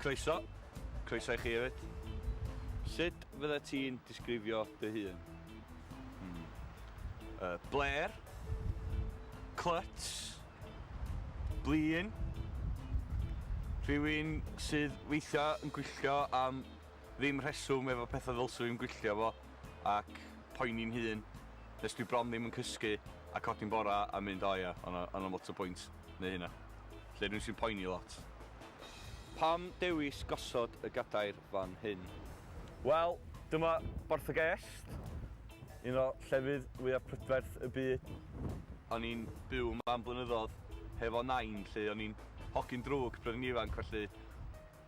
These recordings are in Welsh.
Croeso. Croeso i chi hefyd. Sut fydda ti'n disgrifio dy hun? Hmm. Uh, Blair. Cluts. blin, rhywun sydd weithia yn gwylltio am ddim rheswm efo petha ddylsw i'm gwylltio efo ac poeni'n hun nes dwi bron ddim yn cysgu a codi'n bora a mynd o ia o' 'na o' 'na lot o bwynt neu hynna. Felly rywun sy'n poeni lot. Pam dewis gosod y gadair fan hyn. Wel, dyma Borth y Gest, un o llefydd fwyaf prydferth y byd. O'n i'n byw yma am blynyddodd hefo Nain 'lly, o'n i'n hogyn drwg pryd o'n ifanc felly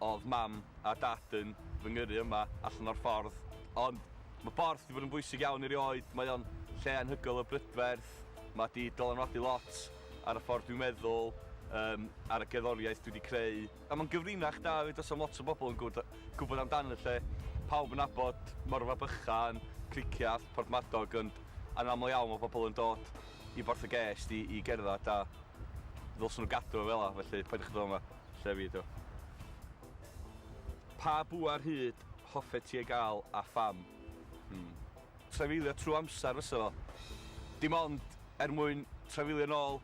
o'dd Mam a Dad yn fy ngyrru yma allan o'r ffordd. Ond ma' Borth 'di bod yn bwysig iawn i rioed, mae o'n lle anhygoel o brydferth, ma' 'di dylanwadu lot ar y ffordd dwi'n meddwl, yym ar y gerddoriaeth dwi 'di creu. A mae'n gyfrinach da 'fyd os am lot o bobl yn gwbod gwbod amdano lle pawb yn nabod Morfa Bychan, Cricieth, Porthmadog ond yn aml iawn mae pobl yn dod i Borth y Gest i i gerdded a ddylsen nhw gadw o fela felly paid â chwilio am y lle fi ydi o. Pa bŵer hud hoffet ti ei gael a pham? Hmm. Trafeilio trwy amser fysa fo. Dim ond er mwyn trafeilio nôl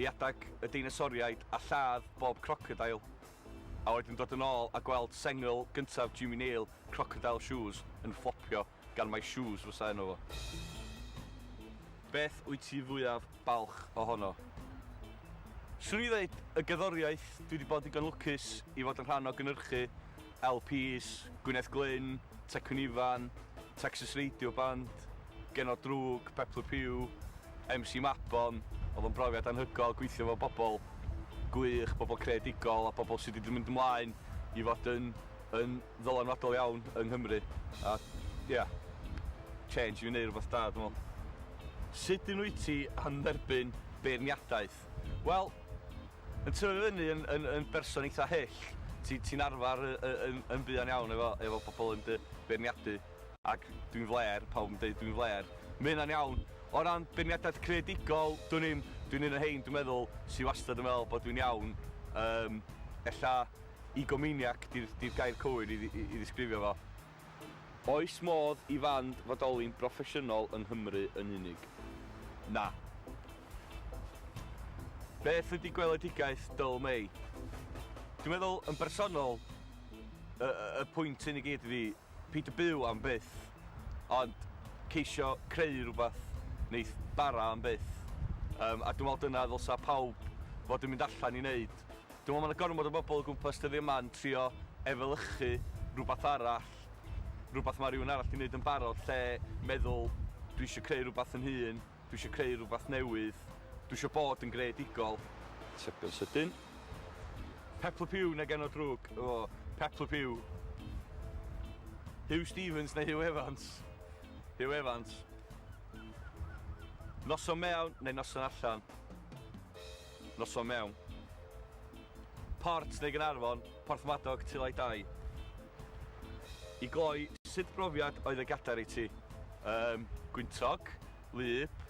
i adeg y deinosoriaid a lladd bob crocodeil, a wedyn dod yn ôl a gweld sengl gyntaf Jimmy Nail, Crocodile Shoes, yn fflopio gan mai Shoes fysa enw fo. Beth wyt ti fwyaf balch ohono? Swn i ddeud y gerddoriaeth, dwi 'di bod digon lwcus i fod yn rhan o gynhyrchu LPs Gwyneth Glyn, Tecwyn Ifan, Texas Radio Band, Genod Drwg, Peplu Pew, MC Mabon, oedd o'n brofiad anhygoel gweithio efo bobl gwych, bobl creadigol a bobl sydd wedi mynd ymlaen i fod yn yn ddylanwadol iawn yng Nghymru a ia, change i wneud rhywbeth da dwi'n meddwl. Sut un wyt ti am dderbyn beirniadaeth? Wel, yn tyfu fyny yn yn yn berson eitha hyll, ti ti'n arfer yy yy yn yn buan iawn efo efo pobl yn dy beirniadu. Ac dwi'n flêr, pawb yn deud dwi'n flêr. Ma' hynna'n iawn. O ran beirniadaeth creadigol, dwn i'm, dwi'n un o rhein dwi'n meddwl sy wastad yn meddwl bod dwi'n iawn. Yym, ella egomaniac 'di'r 'di'r gair cywir i i i ddisgrifio fo. Oes modd i fand fodoli'n broffesiynol yng Nghymru yn unig? Na. Beth ydy gweledigaeth Dull May? Dwi'n meddwl, yn bersonol, y y pwynt hyn i gyd ydy peidio byw am byth, ond ceisio creu rhywbeth neith bara am byth. Yym a dwi'n meddwl dyna ddylsa pawb fod yn mynd allan i neud. Dwi'n meddwl mae 'na gormod o bobl o gwmpas dyddiau 'ma yn trio efelychu rhywbeth arall, rhywbeth mae rhywun arall 'di wneud yn barod lle meddwl 'dwi eisiau creu rhywbeth fy nhun, dwi eisiau creu rhywbeth newydd, dwi eisiau bod yn greadigol. Atebion sydyn. Peplup Huw neu genod drwg? O, Peplup Huw. Huw Stephens neu Huw Evans? Huw Evans. Noson mewn neu noson allan? Noson Mewn. Port neu Gaernarfon, Porthmadog, Tulai Dai. I gloi, sut brofiad oedd y gadair i ti? Yym, gwyntog, wlyb,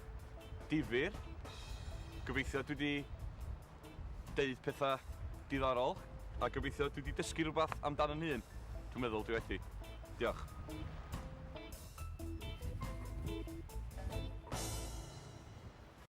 difyr. Gobeithio dwi 'di deud pethau diddorol a gobeithio dwi 'di dysgu rhywbeth amdano fy hun. Dwi'n meddwl dwi wedi. Diolch.